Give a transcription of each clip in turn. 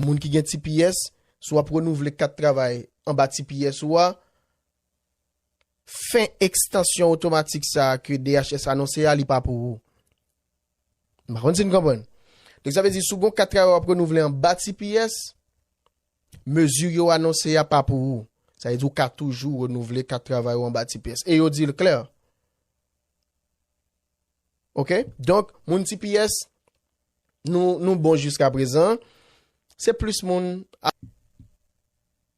Moun ki gen tps, si w ap renouvle kat travay anba tps ou a, fen ekstansyon otomatik sa a ke DHS anonse a, li pa pou ou. M pa konn si n konprann. Donk sa vle di si w gen yon kat travay w ap renouvle anba tps, mezi yo anonse a pa pou ou. Sa vle di ou ka toujou renouvle kat travay ou anba tps. E yo di l klè. Ok donk moun tps nou nou bon jiska prezan se plis moun a.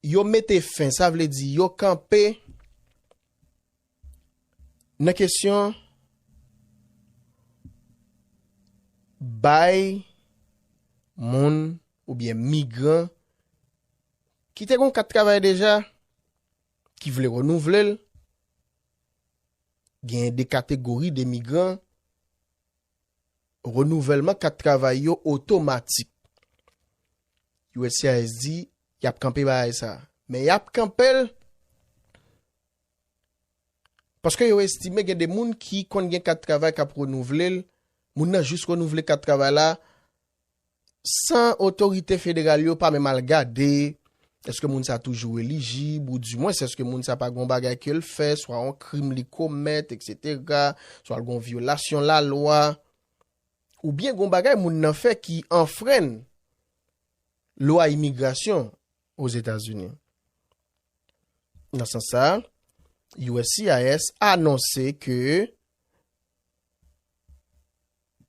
Yo mete fen sa vle di yo kanpe nan kesyon bay moun oubyen migran ki te gon kat travay deja ki vle renouvle l Genyen de kategori de migran renouvèlman kat travay yo otomatik. Uscis di yap kanpe bagay sa. Men yap kanpel paske yo estime gen de moun ki konn gen kat travay kap renouvlel, moun nan jis renouvle kat travay la, San otorite federal yo pa menm al gade èske moun sa toujou elijib ou di mwens èske moun sa pa gen yon bagay ke l fè, swa yon krim li komèt eksetera, swa l gen yon vyolasyon lalwa, oubyen gen yon bagay moun nan fè ki anfrenn lwa imigrasyon Ozetazini. Nan sans sa, uscis anonse ke.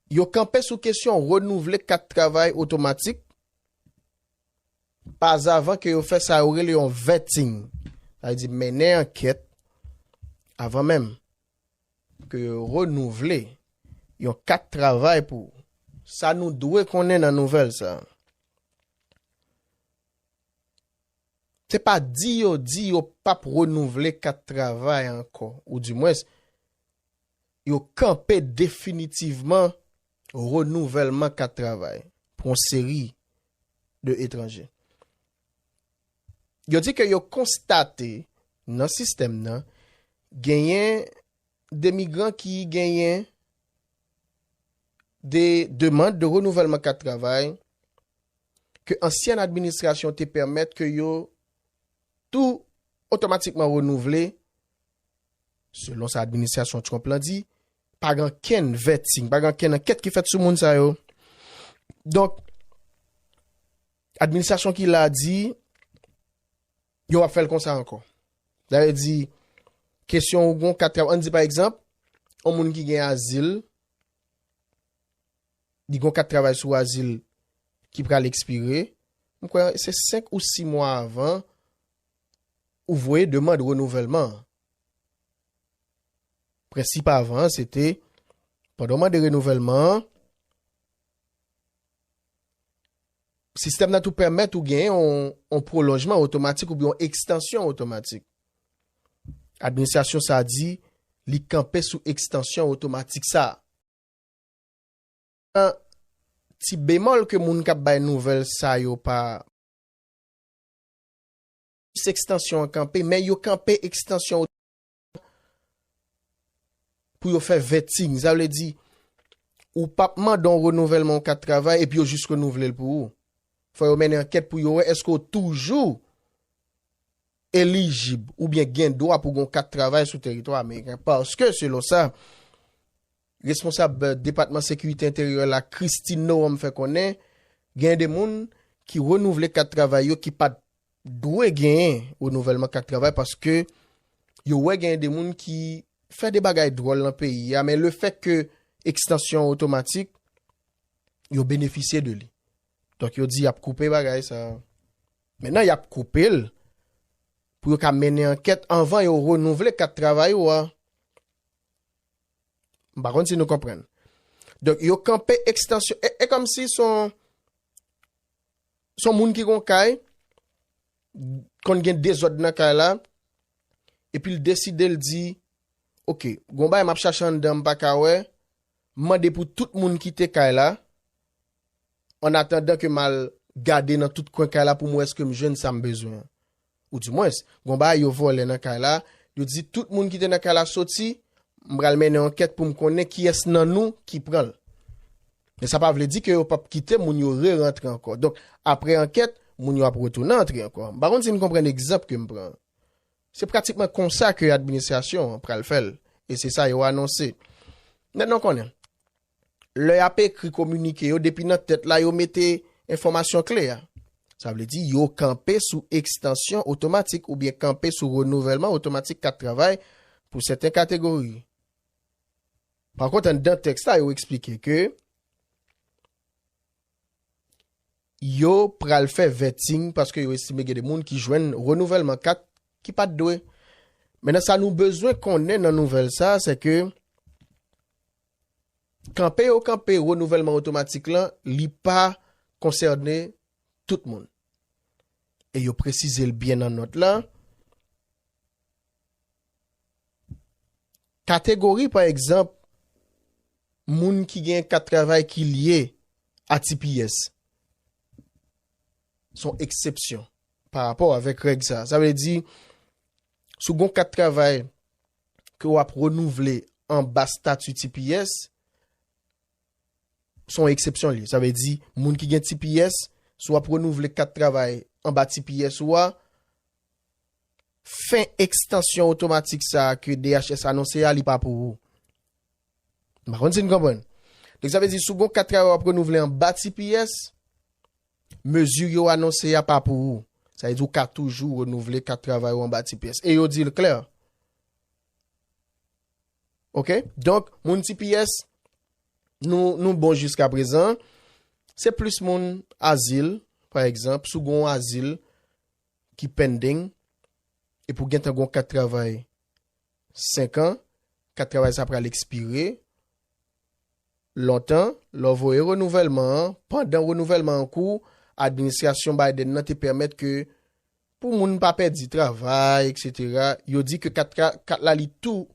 Yo kanpe sou kesyon renouvle kat travay otomatik pa zavan ke yo fè sa yo rele yon vetting, sa vle di mennen ankèt avan menm ke yo renouvle yon kat travay pou ou. Sa nou dwe konnen nan nouvèl sa a, se pa di yo di yo pap renouvle kat travay ankò, ou di mwens, yo kanpe definitivman renouvèlman kat travay pou yon seri de etranje. Yo di ke yo konstate nan sistèm nan genyen de migran ki genyen de demand de renouvèlman kat travay ke ansyen administrasyon te pèmèt ke yo tou otomatikman renouvle Selon sa administrasyon Trump lan di, pa gen ankenn vetting, pa gen ankenn ankèt ki fèt sou moun sa yo. Donk, administrasyon ki la di, yo ap fèl konsa ankò. Da yo di, kesyon ou gon kat, an di pa egzanp, an moun ki gen azil, di gon kat travay sou azil ki pral ekspire, mwen kwen se 5 ou 6 mwa avan, Ou voye demand renouvèlman an. Prensip avan an se te, pandan w mande renouvèlman an, sistèm nan tou pèmèt ou gen yon pwolonjman otomatik oubyen yon ekstansyon otomatik. Administrasyon sa a di li kanpe sou ekstansyon otomatik sa a. An, ti bemòl ke moun k ap bay nouvèl sa yo pa. Plis ekstansyon an kanpe, men yo kanpe ekstansyon yo devan pou yo fè vetting. Sa vle di, ou p ap mande yon renouvèlman yon kat travay epi yo jis renouvle l pou ou. Fò yo mennen ankèt pou yo wè èske ou toujou elijib oubyen gen dwa pou gen yon kat travay sou teritwa ameriken paske selon sa, Responsab Depatman Sekirite Enteryè la Kristi Noem fè konnen genyen 2 moun ki renouvle kat travay yo ki pat dwe genyen renouvèlman kat travay paske yo wè genyen 2 moun ki fè 2 bagay dwòl nan peyi a men le fèt ke ekstansyon an otomatik yo benefisye de li donk yo di yap koupe bagay sa mennan yap koupe l pou yo ka mennen ankèt anvan yo renouvle kat travay ou a. M pa konn si nou konprann. Donk yo kanpe ekstansyon, e, e kòm si son, son moun ki gon kay, konn gen dezòd nan kay la, epi l deside l di, ok, gon bagay m ap chache anndan m pa ka wè, m mande pou tout moun kite kay la, annatandan ke m al gade nan tout kwen kay la pou m wè èske m jwenn sa m bezwen an. Ou di mwens, gon bagay yo vòlè nan kay la, yo di tout moun ki te nan kay la soti, m pral mennen ankèt pou m konnen kiyès nan nou ki pran l. Men sa pa vle di ke yo p ap kite moun yo rerantre ankò. Donk, apre ankèt, moun yo ap retounen antre ankò. M pa konn si n konprann egzanp ke m pran an. Se pratikman konsa ke administrasyon an pral fè l, e se sa yo anonse. Mèt nan konnen, lè y ap ekri kominike yo depi nan tèt la yo mete enfòmasyon kle a. Sa vle di yo kanpe sou ekstansyon otomatik oubyen kanpe sou renouvèlman otomatik kat travay pou sèten kategori. Pakont anndan tèks la yo eksplike ke yo pral fè vetting paske yo estime gen de moun ki jwenn renouvèlman kat ki pat dwe. Menan sa nou bezwen konnen nan nouvèl sa se ke. Kanpe yo kanpe renouvèlman otomatik lan, li pa konsène tout moun. E yo presize l byen nan nòt la. Kategori pa egzanp moun ki gen kat travay ki lye a tps son eksepsyon pa rapò avèk règ sa. Sa vle di sou gon kat travay. ke w ap renouvle anba stati tps, se yon eksepsyon li. Sa vle di, moun ki gen tps, si w ap renouvle kat travay anba tps ou a, fen ekstansyon otomatik sa a ke DHS anonse a, li pa pou ou. M pa konn si n konprann. Donk sa vle di, si w gen yon kat travay w ap renouvle anba tps, Mezi yo anonse a pa pou ou. Sa vle di ou ka toujou renouvle kat travay ou anba tps. E yo di l klè. Ok? Donk, moun tps, nou bon jiskaprezan. Se plis moun azil, pa egzanp, sou gon azil ki pending, e pou gen tan gon kat travay 5 an, kat travay sa pral ekspire, Lontan, lè w voye renouvèlman an, pandan renouvèlman an kou, administrasyon Biden nan te pèmèt ke pou moun pa pèdi travay, etc. Yo di ke kat kat la li tou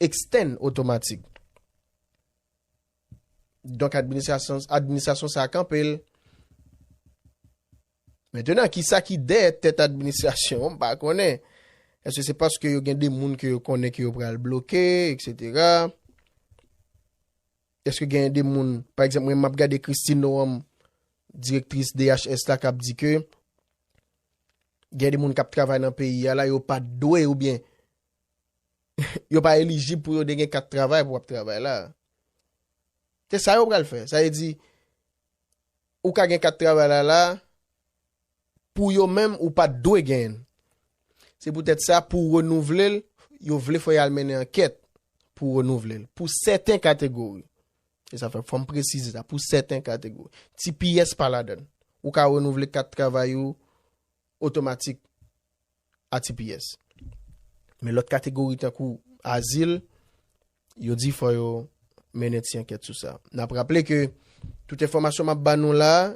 extend otomatik. Donk administrasyon sa a kanpe l. Mentenan, ki sa ki dèyè tèt administrasyon an, m pa konnen. Èske se paske yo gen de moun ke yo konnen ke yo pral bloke, eksetera. Èske gen de moun, pa egzanp, mwen m ap gade Christine Noam, direktris DHS la, k ap di ke gen de moun k ap travay nan peyi a la, yo pa dwe ou byen, yo pa elijib pou yo de gen kat travay pou ap travay la. Se sa yo pral fè. Sa e di, ou ka gen kat travay la la a, pou yo menm ou pa t dwe genyen l. Se poutèt sa, pou w renouvle l, yo vle fò y al mennen ankèt pou w renouvle l, pou sèten kategori. Se sa fè, fò m presize sa, pou sèten kategori. Tps pa ladan l. Ou ka renouvle kat travay ou otomatik. ATPS. Men lòt kategori tankou azil, yo di fò yo mennen ti ankèt sou sa. N ap raple ke tout enfòmasyon m ap ba nou la a,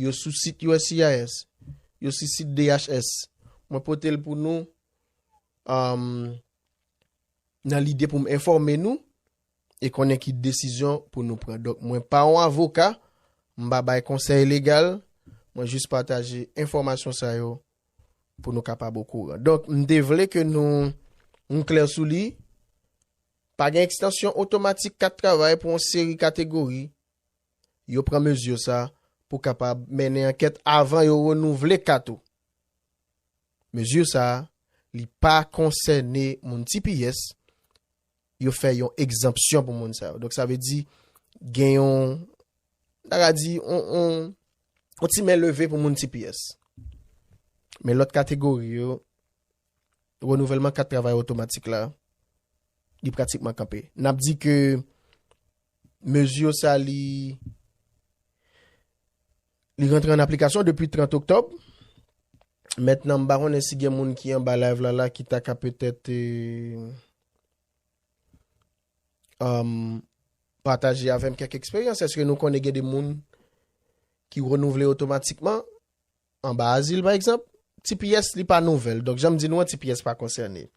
yo sou sit uscis, yo sou sit DHS. Mwen pote l pou nou nan lide pou m enfòme nou e konnen ki desizyon pou nou pran. Donk mwen pa yon avoka, m pa bay konsèy legal, mwen jis pataje enfòmasyon sa yo pou nou kapab okouran. Donk, m te vle ke nou nou klè sou li, pa gen ekstansyon otomatik kat travay pou yon seri kategori, yo pran mezi sa pou kapab mennen ankèt avan yo renouvle kat ou. Mezi sa, li pa konsène moun tps, yo fè yon egzanpsyon pou moun sa yo. Donk sa vle di gen yon ta ka di yon ti men leve pou moun tps. Men lòt kategori yo renouvèlman kat travay otomatik la li pratikman kanpe. N ap di ke mezi yo sa li Li rantre an aplikasyon depi 30 oktòb. Mètnan m pa konnen si gen moun ki anba live la la ki ta ka petèt pataje avè m kèk eksperyans. Èske nou konnen gen de moun ki renouvle otomatikman anba azil pa egzanp? Tps li pa nouvèl. Donk jan m di nou an tps pa konsène.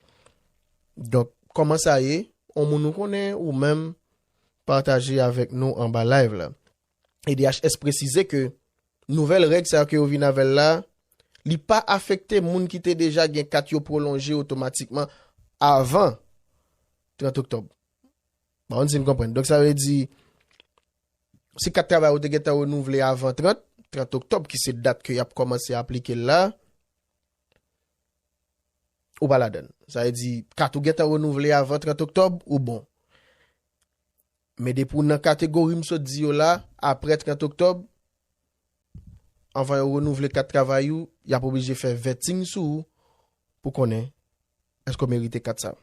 Donk kòman sa ye? On moun ou konnen ou menm pataje avèk nou anba live la. EDHS presize ke nouvèl règ sa yo ke yo vin avè l la, li pa afekte moun ki te deja gen kat yo pwolonje otomatikman avan 30 oktòb. Pa konn si n konprann. Donk sa vle di, si kat travay ou te gentan renouvle avan 30, 30 oktòb ki se dat ke y ap kòmanse aplike l la, ou pa ladan l. Sa vle di, kat ou gentan renouvle avan 30 oktòb, ou bon. Men depi w nan kategori m sot di yo la, apre 30 oktòb, anvan yo renouvle kat travay ou, y ap oblije fè vetting sou ou pou konnen èske w merite kat sa a.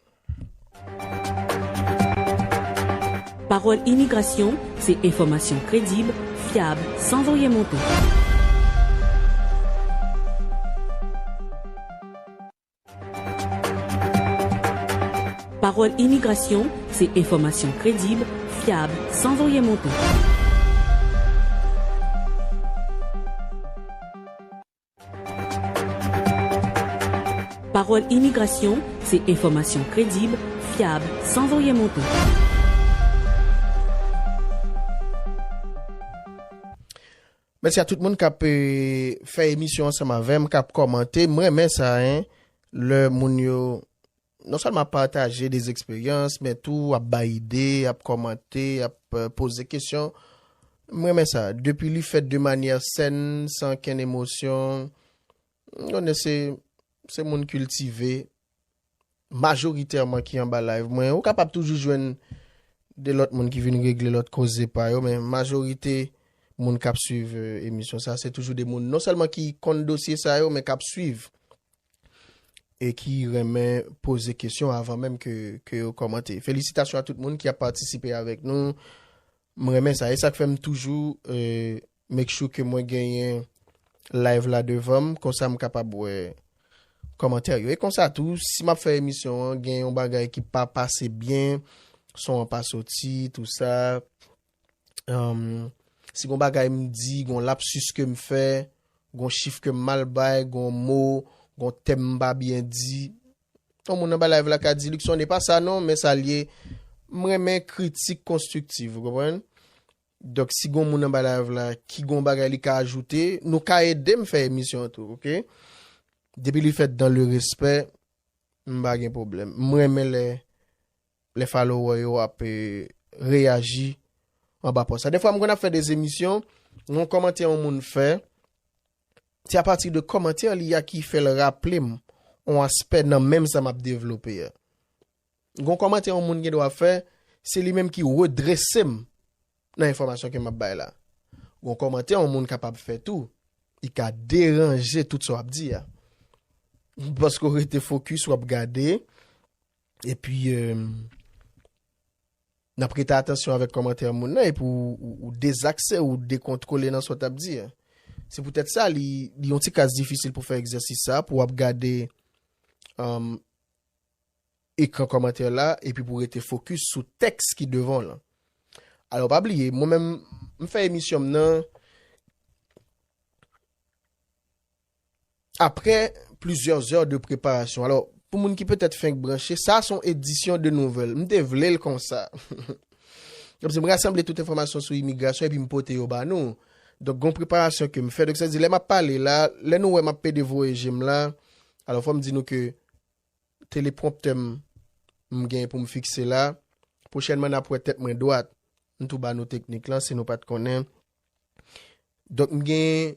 Pawòl Imigrasyon se enfòmasyon kredib, fyab, san voye monte. Pawòl Imigrasyon, se enfòmasyon kredib, fyab, san voryen monte. Pawòl Imigrasyon, se enfòmasyon kredib, fyab, san voryen monte. Mèsi a tout moun kap fè emisyon ansanm avèm kap kòmante m renmen sa hein lè moun yo non sèlman ap pataje des expériences men tou ap bay ide ap kòmante ap poze kesyon m renmen sa depi li fèt de manyè sèn san okenn emosyon m konnen se se moun kiltive. majoritèman ki anba live mwen, ou kapab toujou jwenn 2 lòt moun ki vin regle lòt koze pa yo, men majorite moun kap swiv emisyon sa, se toujou 2 moun non sèlman ki konn dosye sa yo, men kap swiv e ki renmen poze kesyon avan menm ke yo kòmante. Felisitasyon a tout moun ki ap patisipe avèk nou, m renmen sa, e sak fèm toujou Make sure ke mwen genyen live la devanm konsa m kapab wè kòmantè yo. E konsa tou, si map fè emisyon an gen yon bagay ki pa pase byen, son an pa soti, tou sa, humm, si gon bagay m di, gon lapsus ke m fè, gon chif ke m mal bay, gon mo, gon tèm m pa byen di, yon moun anba live la ka di, Luckson e pa sa non, men sa l ye, m renmen kritik konstriktiv, ou konprann? Donk si gon moun anba live la ki gon bagay li ka ajoute nou ka edem fè emisyon an tou ok depi li fèt dan le respè m pa gen pwoblèm m renmen lè lè followè yo ap reyaji anba pòs la defwa m konn ap fè des emisyon yon kòmantè yon moun fè se apati de kòmantè li a ki fèl raplem yon aspè nan menm sa map devlope a. Gon kòmantè yon moun gen dwa fè, se li menm ki redrese m nan enfòmasyon ke m ap bay la. Gon kòmantè yon moun kapab fè tou, li ka deranje tout sa w ap di a. Paske w rete fokis, w ap gade, epi n ap rete atansyon avèk kòmantè moun nan epi ou dezakse, ou dekontwole nan sa w t ap di a. Se poutèt sa li yon ti kras difisil pou fè egzèsis sa a, pou w ap gade. ekran kòmantè la epi pou rete fokis sou tèks ki devan w lan. Alò pa bliye, mwen menm m fè emisyon m nan aprè plizyè zè de preparasyon. Alò, pou moun ki petèt fenk branche, sa son edisyon de nouvèl. M te vle l konsa. Kòm se m rasanble tout enfòmasyon sou imigrasyon epi m pote yo ba nou. Donk gon preparasyon ke m fè. Donk sa vle di lè m ap pale la, lè nou wè m ap pede voye je m la, alò fò m di nou ke, telepromptè m m gen pou m fikse la. Pwochènman n ap wè tèt mwen dwat. M tou ba nou teknik lan si nou pa t konnen. Donk m gen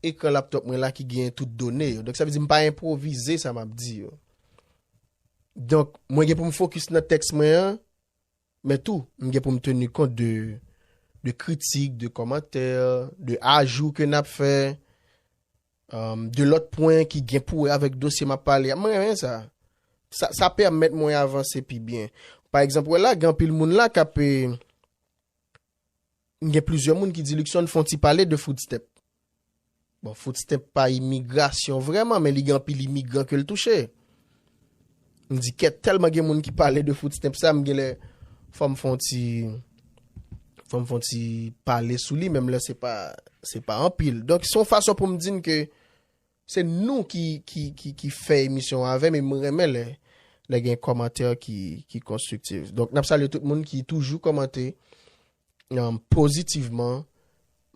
ekran laptop mwen la ki gen tout done yo. Donk sa vle di m pa enpwovize sa m ap di yo. Donk mwen gen pou m fokis nan tèks mwen an. Men tou, m gen pou m teni kont de de kritik, de kòmantè, de ajou ke n ap fè, de lòt pwen ki gen pou wè avèk dosye m ap pale a. M renmen sa. Sa sa pèmèt mwen avanse pi byen. Pa egzanp, wè la gen anpil moun la k ap Gen plizyè moun ki di Luckson fon ti pale de Footstemp. Bon, Footstemp pa imigrasyon vrèman, men li gen anpil imigran ke l touche. M di kèt, tèlman gen moun ki pale de Footstemp sa, m genlè fò m fon ti, fò m fon ti pale sou li, menm lè se pa, se pa anpil. Donk, se yon fason pou m di n ke Se nou ki fè emisyon an avèm e m renmen lè gen kòmantè ki konstriktiv. Donk n ap salye tout moun ki toujou kòmante pozitivman.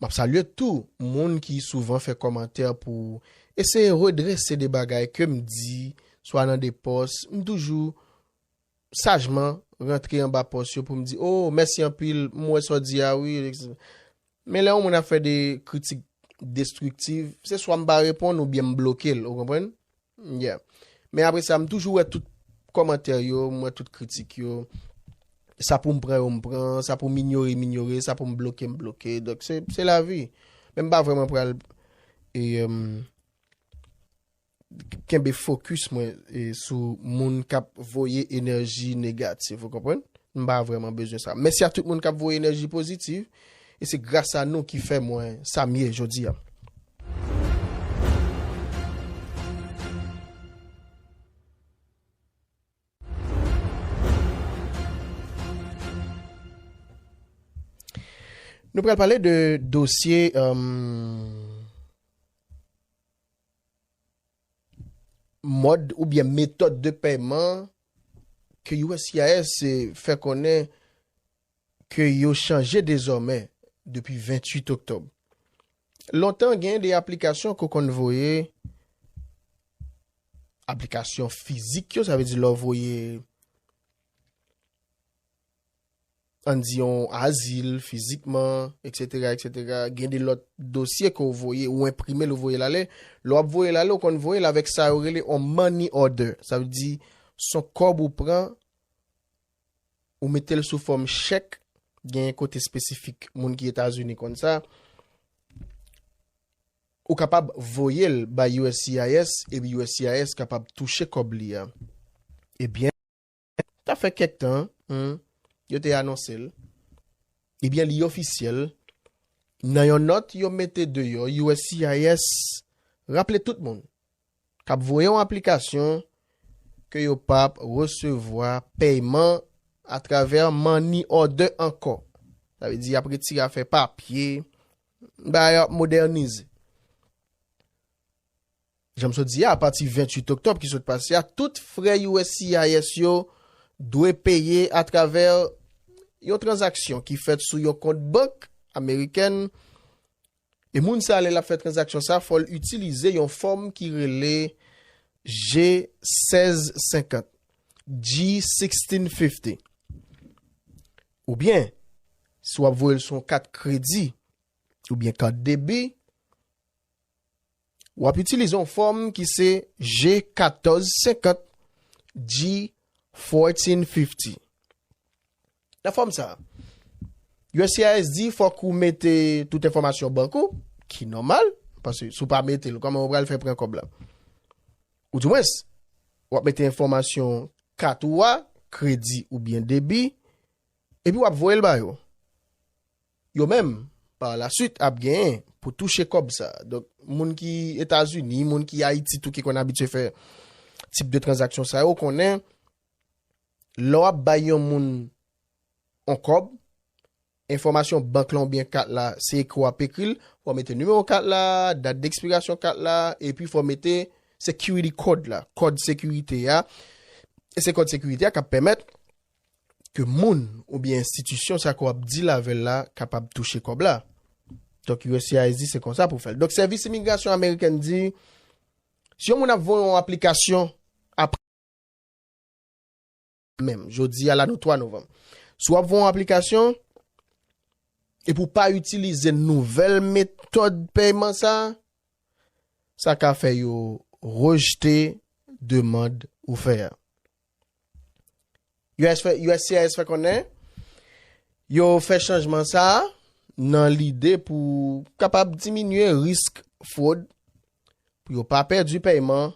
M ap salye tou moun ki souvan fè kòmantè pou eseye redrese de bagay ke m di swa nan de pòs. M toujou sajman rantre anba pòs yo pou m di, o mèsi anpil m wè sa w di a wi. Men lè yon moun ap fè de kritik destriktiv, se swa m pa reponn oubyen m bloke l, ou konprann? Yeah. Men apre sa, m toujou wè tout kòmantè yo, m wè tout kritik yo. Sa pou m pran yo m pran, sa pou m inyore m inyore, sa pou m bloke m bloke. Donk se lavi. Men m pa vreman pral e. kenbe focus mwen sou moun kap voye enèji negatif ou konprann m pa vrèman bezwen sa mèsi a tout moun kap voye enèji pozitif e se gras a nou ki fè mwen sa m ye jodi a. Nou pral pale de dosye. Mòd oubyen metòd de pèyman ke uscis fè konnen ke yo chanje dezòmè depi 28 oktòb. Lontan gen de aplikasyon ke w konn voye, aplikasyon fizik yo, sa vle di lè w voye ann di yon azil, fizikman, eksetera, eksetera, gen de lòt dosye ke w voye, ou enprime l ou voye l ale, lè w ap voye l ale ou konn voye l avèk sa yo rele yon money order, sa vle di s on kòb ou pran ou mete l sou fòm chèk, gen yon kote espesifik moun ki Etazini konn sa, ou kapab voye l bay uscis epi uscis kapab touche kòb li a. Ebyen. Sa fè kèk tan yo te anonse l, ebyen li ofisyèl nan yon nòt yo mete deyò uscis raple tout moun kap voye yon aplikasyon ke yo pap resevwa pèyman atravè money order ankò. Sa vle di yap retire afè papye, bagay yo ap modernize. Jan m sot di a, apati 28 oktòb ki sot pase a, tout frè uscis yo dwe peye atravè yon tranzaksyon ki fèt sou yon kont bank amerikèn, e moun sa a lè l ap fè tranzaksyon sa a fò l itilize yon fòm ki rele G-1650, G-1650, oubyen si w ap voye l sou yon kat kredi oubyen kat debi, Wap itilize yon fòm ki se G 14 50 G 14 50. Nan fòm sa, uscis di fòk ou mete tout enfòmasyon bank ou, ki nòmal, pase si w pa mete l, kòman yo pral fè pran kòb la? Ou di mwens, wap mete enfòmasyon kat ou a, kredi oubyen debi, epi wap voye l ba yo. Yo menm, par la suite, ap genyen pou touche kòb sa. Donk, moun ki Etazini, moun ki Ayiti tou ki konn abitye fè tip de tranzaksyon sa yo konnen lè w ap bay yon moun yon kòb, enfòmasyon bank lan oubyen kat la, se ekri w ap ekri l, fò w mete nimewo kat la, dat dekspirasyon kat la, epi fò w mete security code la, kòd sekirite a, e se kòd sekirite a k ap pèmèt. ke moun oubyen enstitisyon sa ke w ap deal avè l la kapab touche kòb la. Donk uscis di se konsa pou w fè l. Donk sèvis imigrasyon amerikèn di si yon moun ap voye yon aplikasyon apre menm, jodi a la nou 3 novanm, si w ap voye yon aplikasyon epi w pa itilize nouvèl metòd pèyman sa, sa ka fè yo rejte demand ou fè a. Uscis fè konnen yo fè chanjman sa a nan lide pou kapab diminye risk fwod, pou yo pa pèdi pèyman,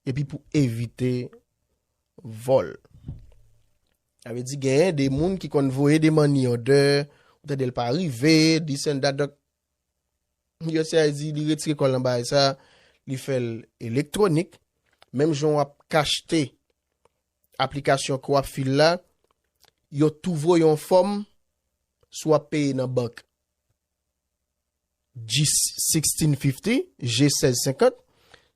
epi pou evite vòl. A ve di genyen de moun ki konn voye de money order, ou tande l pa rive, dis and that, donk Usa di li retire kòl nan bagay sa, li fè l elektwonik, menm jan wap k achte aplikasyon ke wap fil la, yo tou voye yon fòm si wap peye nan bank. G1650, G1650,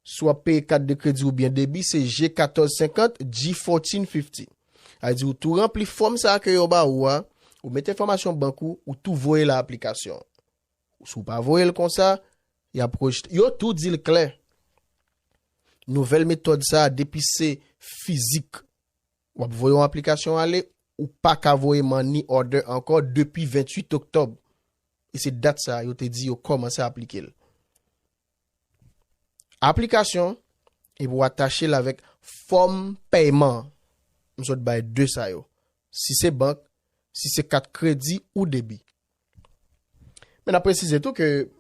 si wap peye kat de kredi oubyen debi se G1450, G1450. Sa di ou tou ranpli fòm sa ke yo ba ou a, ou met enfòmasyon bank ou, ou tou voye la aplikasyon. Si ou pa voye l konsa, y ap rejte. Yo tou di l klè, nouvèl metòd sa a depi se fizik w ap voye yon aplikasyon ale, ou pa ka voye money order ankò depi 28 oktòb. E se dat sa a yo te di yo kòmanse aplike l. Aplikasyon epi w atache l avèk fòm pèyman an. M sot bay 2 sa yo, si se bank, si se kat kredi ou debi. Men n ap presize tou ke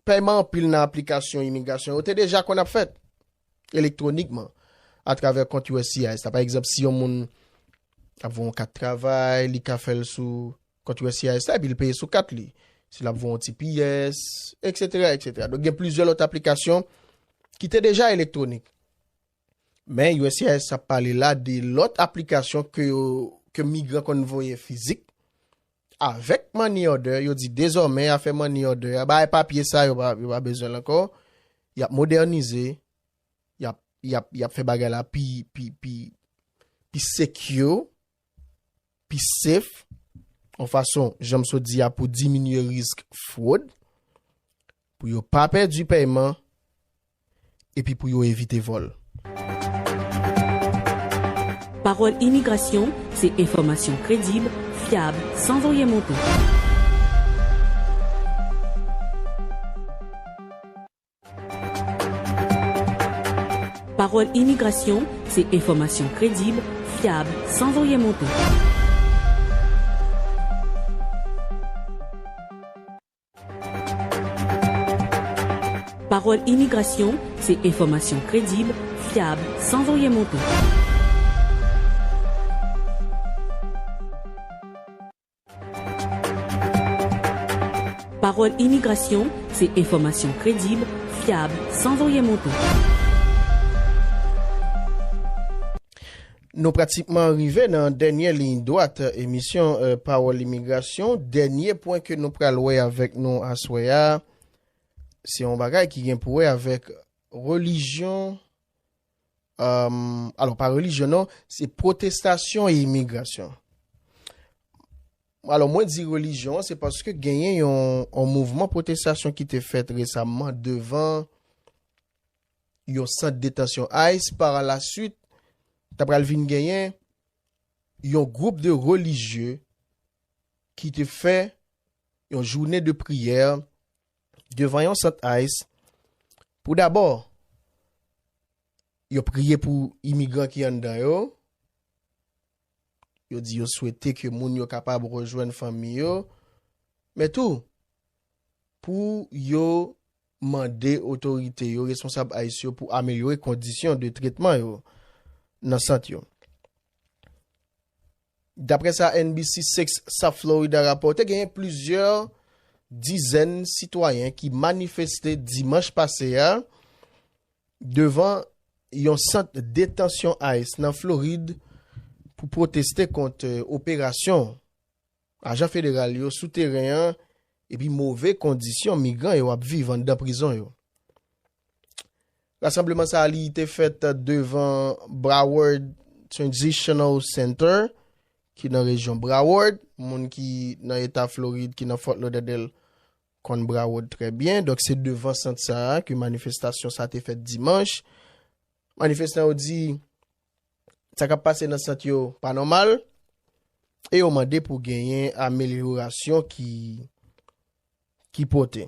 pèyman anpil nan aplikasyon imigrasyon yo te deja konn ap fèt elektwonikman atravè kont uscis la. Pa egzanp, si yon moun ap voye yon kat travay, li ka fè l sou Kont uscis la epi li peye sou kat li. Si l ap voye yon ti pyès, eksetera, eksetera. Donk gen plizyè lòt aplikasyon ki te deja elektwonik. Men uscis ap pale la de lòt aplikasyon ke yo, ke migran konn voye fizik. Avèk money order, yo di dezòmè afè money order a, bagay papye sa yo pa bezwen l ankò. Y ap modènize, y ap, y ap, y ap fè bagay la pi, pi, pi secure. pi sef, yon fason jan m sot di a pou diminye risk fwod, pou yo pa pèdi pèyman, epi pou yo evite vòl. Pawòl Imigrasyon, se enfòmasyon kredib, fyab, san voye monte. Pawòl Imigrasyon, se enfòmasyon kredib, fyab, san voye monte. Pawòl Imigrasyon, se enfòmasyon kredib, fyab, san voye monte. Pawòl Imigrasyon, se enfòmasyon kredib, fyab, san voye monte. Nou pratikman rive nan dènye liy dwat emisyon Pawòl Imigrasyon. Dènye pwen ke nou pral wè avèk nou aswè a, se yon bagay ki gen pou wè avèk relijyon Alò, pa relijyon non, se pwotestasyon e imigrasyon. Alò, mwen di relijyon, se paske genyen yon mouvman pwotestasyon ki te fèt resamman devan yon sant detansyon ICE, para la suit, ta pral vin genyen yon gwoup de relijyon ki te fè yon jounen de priyè devan yon sant ice pou dabò yo priye pou imigran ki anndan yo, yo di yo swete ke moun yo kapab rejwenn fanmi yo, men tou pou yo mande otorite yo, responsab ice yo pou amelyore kondisyon de tretman yo nan sant yo. Daprè sa NBC 6 South Florida rapòte genyen plizyè dizèn sitwayen ki manifeste dimanch pase a devan yon sant detansyon ice nan Florid pou pwoteste kont operasyon ajan federal yo sou teren an epi move kondisyon migran yo ap viv anndan prizon yo. Rasanbleman sa a li te fèt devan Broward Transitional Center ki nan rejyon Broward. Moun ki nan eta Florid ki nan Fort Lauderdale konn Broward trè byen. Donk se devan sant sa a ke manifestasyon sa a te fèt dimanch. Manifestan yo di sa k ap pase nan sant yo pa nòmal e yo mande pou genyen amelyorasyon ki ki pote.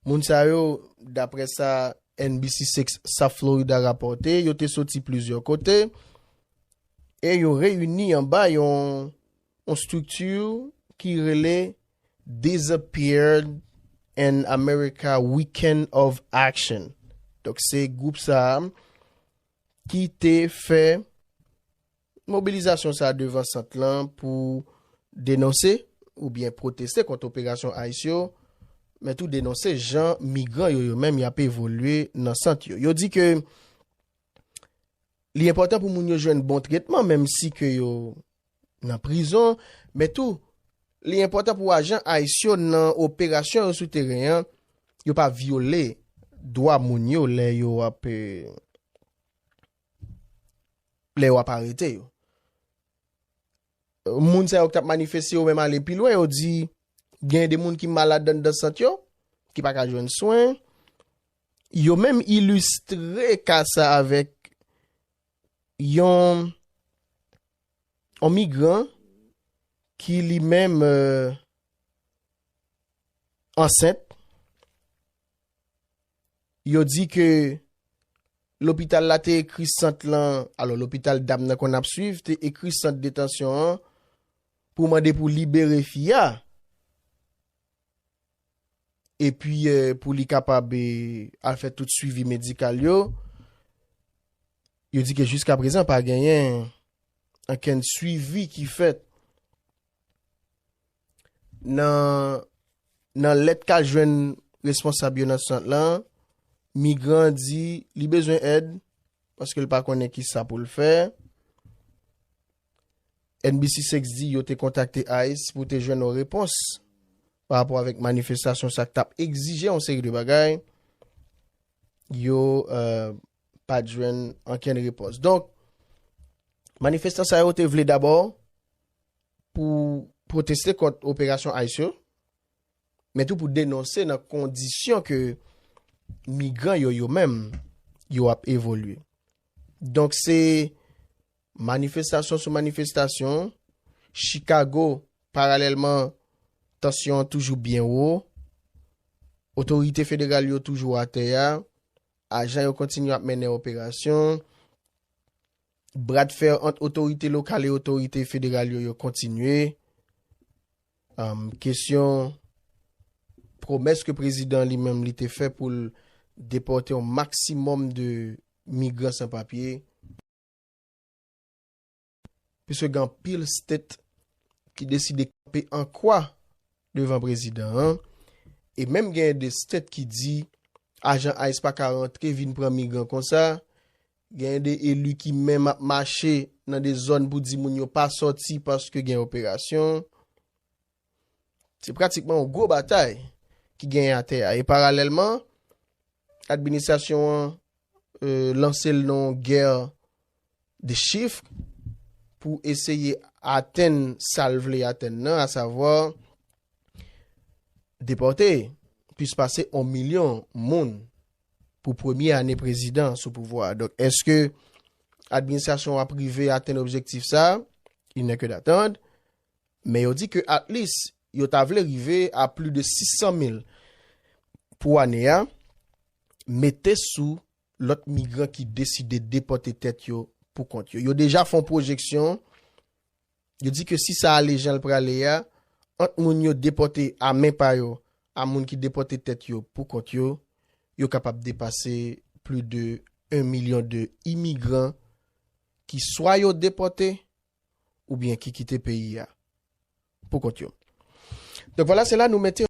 Moun sa yo, dapre sa NBC 6 South Florida rapòte, yo te soti plizyè kote e yo reyini anba yon estrikti ki rele Disappeared in America Weekend of Action. Donk se gwoup sa a ki te fè Mobilizasyon sa a devan sant lan pou denonse oubyen pwoteste kont operasyon ice yo, men tou denonse jan migran yo yo menm y ap evolye nan sant yo. Yo di ke li enpòtan pou moun yo jwenn bon tretman menm si ke yo nan prizon, men tou li enpòtan pou ajan ice yo nan operasyon yo sou teren an, yo pa vyole dwa moun yo lè yo ap. Lè wap arete yo. Moun sa yo ki tap manifeste yo menm ale pi lwen, yo di gen de moun ki malad anndan sant yo, ki pa ka jwenn swen. Yo menm ilistre ka sa avèk yon migran ki li menm ansent. Yo di ke lopital la te ekri sant lan, alò lopital dam nan konn ap swiv te ekri sant detansyon an pou mande pou libere fi a epi pou li kapab al fè tout swivi medikal yo. Yo di ke jiska prezan pa genyen ankenn swivi ki fèt. Nan lèt ka jwenn responsab yo nan sant lan, migran an di li bezwen èd paske l pa konnen ki sa pou l fè. NBC 6 di yo te kontakte ICE pou te jwenn yon repons pa rapò avèk manifestasyon sa k tap egzije yon seri de bagay. Yo euh, pa jwenn ankenn repons. Donk, manifestan sa yo te vle dabò pou pwoteste kont operasyon ice yo, men tou pou denonse nan kondisyon ke migran yo yo menm yo ap evolye. Donk se manifestasyon sou manifestasyon, Chicago paralèlman tansyon an toujou byen wo, otorite federal yo toujou atè a, ajan yo kontinye ap mennen operasyon, Bradfè ant otorite lokal e otorite federal yo yo kontinye. Kesyon pwomès ke prezidan li menm li te fè pou l depòte yon maksimòm de migran san papye. Piske gen anpil stet ki deside kanpe an kwa devan prezidan an. E menm gen de stet ki di ajan ice pa ka rantre vin pran migran konsa. Gen de eli ki menm ap mache nan de zòn pou di moun yo pa sòti paske gen operasyon. Se pratikman yon gwo batay ki genyen atè a. E paralèlman, administrasyon an lanse l nan yon gè de chif pou eseye atenn sa l vle atenn nan, asavwa, depòte plis pase on milyon moun pou premye ane prezidan sou pouvwa a. Donk, eske administrasyon ap rive atenn objektif sa? Il n'est que d'attendre. Men yo di ke at lis, yo ta vle rive a pli de 600 mil pou ane a, mete sou lòt migran ki deside depòte tèt yo pou kont yo. Yo deja fon pwojeksyon Yo di ke si sa ale jan l prale a, ant moun yo depòte a men pa yo a moun ki depòte tèt yo pou kont yo, yo kapab depase pli de 1 milyon de imigran ki swa yo depòte oubyen ki kite peyi a pou kont yo. Donk vwala se la nou mete.